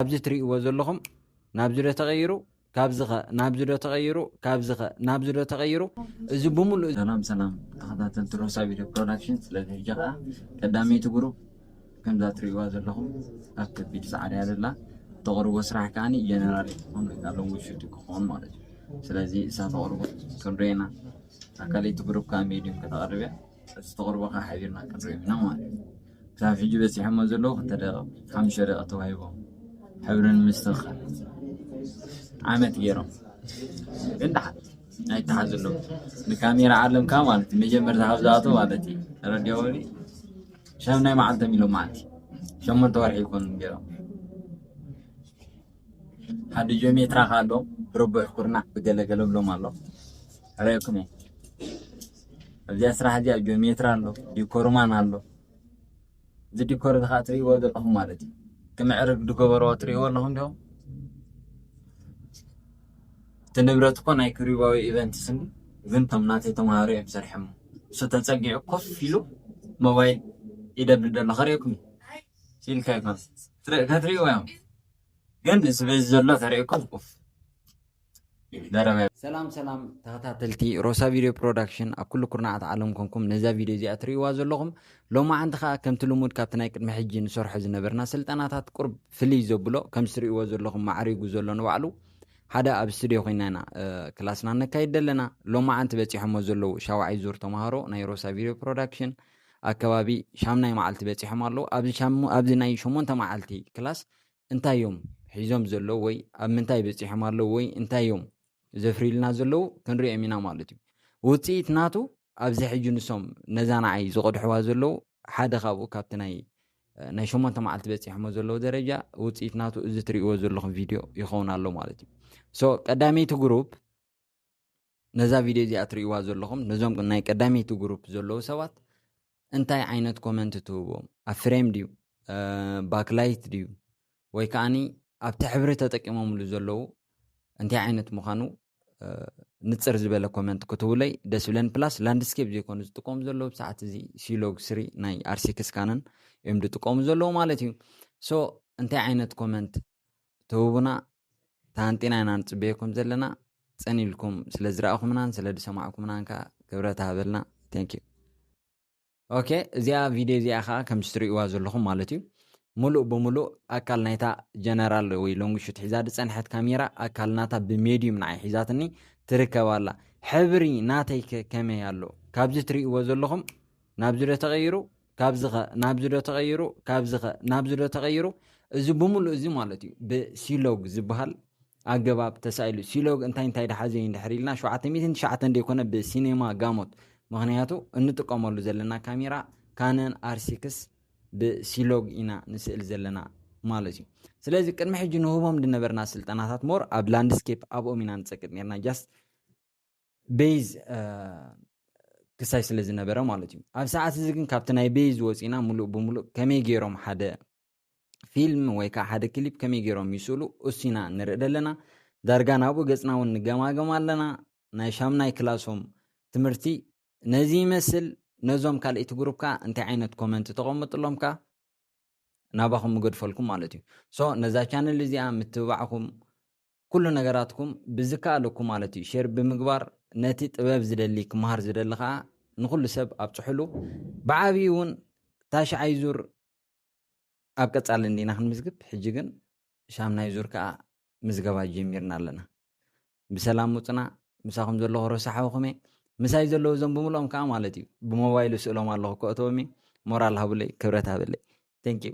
ኣብዚ ትርእይዎ ዘለኹም ናብዚ ዶ ተቐይሩ ካብዚ ኸ ናብዚ ዶ ተቐይሩ ካብዚ ኸ ናብዚ ዶ ተቐይሩ እዚ ብምሉእ ሰላም ሰላም ተኸታተልቲ ሮሳ ቪድዮ ፕሮዳክሽን ስለዚ ሕጂ ከዓ ቀዳመይቲ ጉሩብ ከምዛ ትርእይዋ ዘለኹም ኣብ ከቢድ ፃዕሪ እያ ዘላ ተቕርቦ ስራሕ ከዓ ጀነራል ክኾን ወይ ከዓ ሎንግ ሹት ክኾን ማለት እዩ ስለዚ እሳ ተቕርቦ ክንሪኤና ኣብ ካልኣይቲ ጉሩብ ከዓ ሜድዩም ከተቕርብ እያ እዚ ተቕርቦ ከዓ ሓቢርና ክንሪኦ ኢና ማለት እዩ ክሳብ ሕጂ በጺሖሞ ዘለዉ ክልተ ደቒቕ ሓሙሽተ ደቒቕ ተዋሂቦም ሕብሪ ንምስትኽኻል ዓመት ገይሮም ግን ደሓን ኣይተሓዙለዉ ንካሜራ ዓለምካ ማለት እዩ መጀመርታ ካብ ዝኣቶ ማለት እዩ ረድዮወኒ ሻምናይ መዓልቶም ኢሎም መዓልቲ ሸሞንተ ወርሒ ይኮኑ ገይሮም ሓዲ ጆሜ ትራክ ኣሎ ብርቡዕ ኩርናዕ ብገለ ገለ ብሎም ኣሎ ረእኩም እየ ኣብዚኣ ስራሕ እዚኣ ጆሜትራ ኣሎ ዲኮርማን ኣሎ እዚ ዲኮር እዚ ከዓ ትርእይዎ ዘለኹም ማለት እዩ ክምዕርግ ዝገበርዎ ትርእይዎ ኣለኹም ዲኹም እቲ ንብረት እኮ ናይ ክሪባዊ ኢቨንትስ እንዲ ግን እቶም ናተይ ተምሃሮ እዮም ሰሪሖሞ እሱ ተፀጊዑ ኮፍ ኢሉ ሞባይል ይደብድብ ዘሎ ከርእየኩም እዩ ኢልካ ይኮን ከትሪእዎ እዮም ግን እዚ በዚ ዘሎ ተሪእኩም ኡፍ ደረበ ሰላም ሰላም ተኸታተልቲ ሮሳ ቪድዮ ፕሮዳክሽን ኣብ ኩሉ ኩርናዓት ዓለም ኮንኩም ነዛ ቪድዮ እዚኣ ትርእይዋ ዘለኹም ሎማዓንቲ ከዓ ከምቲ ልሙድ ካብቲ ናይ ቅድሚ ሕጂ ንሰርሖ ዝነበርና ስልጠናታት ቁርብ ፍልይ ዘብሎ ከም ዝትርእይዎ ዘለኹም ማዕሪጉ ዘሎ ንባዕሉ ሓደ ኣብ ስትድዮ ኮይና ኢና ክላስና ነካይድ ኣለና ሎማዓንቲ በፂሖሞ ዘለዉ ሻውዓይ ዙር ተምሃሮ ናይ ሮሳ ቪድዮ ፕሮዳክሽን ኣከባቢ ሻምናይ መዓልቲ በጺሖም ኣለዉ። ኣብዚ ሻሙ ኣብዚ ናይ ሸሞንተ መዓልቲ ክላስ እንታይ እዮም ሒዞም ዘለዉ ወይ ኣብ ምንታይ በጺሖም ኣለዉ ወይ እንታይ እዮም ዘፍርዩልና ዘለዉ ክንሪኦም ኢና ማለት እዩ። ውጽኢት ናቱ ኣብዚ ሕጂ ንሶም ነዛ ንዓይ ዝቐድሕዋ ዘለዉ ሓደ ካብኡ ካብቲ ናይ ናይ ሸሞንተ መዓልቲ በጺሖሞ ዘለዉ ደረጃ ውጽኢት ናቱ እዚ ትርእይዎ ዘለኹም ቪድዮ ይኸውን ኣሎ ማለት እዩ። ሶ ቀዳመይቲ ግሩፕ ነዛ ቪድዮ እዚኣ ትርእይዋ ዘለኹም ነዞም ናይ ቀዳመይቲ ግሩፕ ዘለዉ ሰባት እንታይ ዓይነት ኮመንት ትህብዎም ኣብ ፍሬም ድዩ ባክላይት ድዩ ወይ ከዓኒ ኣብቲ ሕብሪ ተጠቂሞምሉ ዘለዉ እንታይ ዓይነት ምዃኑ ንፅር ዝበለ ኮመንት ክትብለይ ደስ ብለን ፕላስ ላንድስኬፕ ዘይኮኑ ዝጥቀሙ ዘለዉ ብሰዓት እዚ ሲሎግ ስሪ ናይ ኣርሲክስ ካነን እዮም ዝጥቀሙ ዘለዉ ማለት እዩ ሶ እንታይ ዓይነት ኮመንት ትህቡና ተሃንጢና ኢና ንፅበየኩም ዘለና ፅን ኢልኩም ስለ ዝረኣኹምናን ስለ ዝሰማዕኩምናን ከዓ ክብረት ሃበልና ቴንኪዩ ኦኬ እዚኣ ቪድዮ እዚኣ ከዓ ከምዚ ትርእይዋ ዘለኹም ማለት እዩ ሙሉእ ብሙሉእ ኣካል ናይታ ጀነራል ወይ ሎንግሹት ሒዛ ዝፀንሐት ካሜራ ኣካል ናታ ብሜድዩም ንዓይ ሒዛትኒ ትርከብ ኣላ ሕብሪ ናተይ ከመይ ኣሎ ካብዚ ትርእይዎ ዘለኹም ናብዚ ዶ ተቐይሩ ካብዚ ከ ናብዚ ዶ ተቐይሩ ካብዚ ከ ናብዚ ዶ ተቐይሩ እዚ ብምሉእ እዚ ማለት እዩ ብሲሎግ ዝበሃል ኣገባብ ተሳኢሉ ሲሎግ እንታይ እንታይ ድሓዘ እዩ ንድሕር ኢልና 799 ዘይኮነ ብሲኔማ ጋሞት ምክንያቱ እንጥቀመሉ ዘለና ካሜራ ካነን ኣርሲክስ ብሲሎግ ኢና ንስእል ዘለና ማለት እዩ ስለዚ ቅድሚ ሕጂ ንህቦም ዝነበርና ስልጠናታት ሞር ኣብ ላንድስኬፕ ኣብኦም ኢና ንፀቅጥ ነርና ጃስት ቤዝ ክሳይ ስለ ዝነበረ ማለት እዩ ኣብ ሰዓት እዚ ግን ካብቲ ናይ ቤዝ ወፂና ሙሉእ ብምሉእ ከመይ ገይሮም ሓደ ፊልም ወይ ከዓ ሓደ ክሊፕ ከመይ ገይሮም ይስእሉ እሱና ንርኢ ዘለና ዳርጋ ናብኡ ገፅና እውን ንገማገም ኣለና ናይ ሻምናይ ክላሶም ትምህርቲ ነዚ ይመስል ነዞም ካልእቲ ግሩፕ ከዓ እንታይ ዓይነት ኮመንት ተቐምጥሎም ከዓ ናባኹም ምገድፈልኩም ማለት እዩ ሶ ነዛ ቻነል እዚኣ ምትብባዕኹም ኩሉ ነገራትኩም ብዝከኣለኩም ማለት እዩ ሼር ብምግባር ነቲ ጥበብ ዝደሊ ክመሃር ዝደሊ ከዓ ንኩሉ ሰብ ኣብፅሕሉ ብዓብዪ እውን ታሽዓይ ዙር ኣብ ቀፃሊ እንዲና ክንምዝግብ ሕጂ ግን ሻምናይ ዙር ከዓ ምዝገባ ጀሚርና ኣለና ብሰላም ውፅና ምሳኹም ዘለኹ ረሳሓውኹም እየ ምሳይ ዘለዉ እዞም ብምልኦም ከዓ ማለት እዩ ብሞባይሉ ስእሎም ኣለኹ ከእተዎም እየ ሞራል ሃብለይ ክብረት ሃበለይ ቴንኪዩ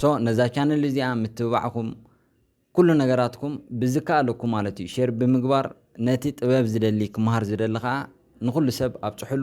ሶ ነዛ ቻነል እዚኣ ምትብባዕኩም ኩሉ ነገራትኩም ብዝከኣለኩም ማለት እዩ ሼር ብምግባር ነቲ ጥበብ ዝደሊ ክምሃር ዝደሊ ከዓ ንኩሉ ሰብ ኣብፅሕሉ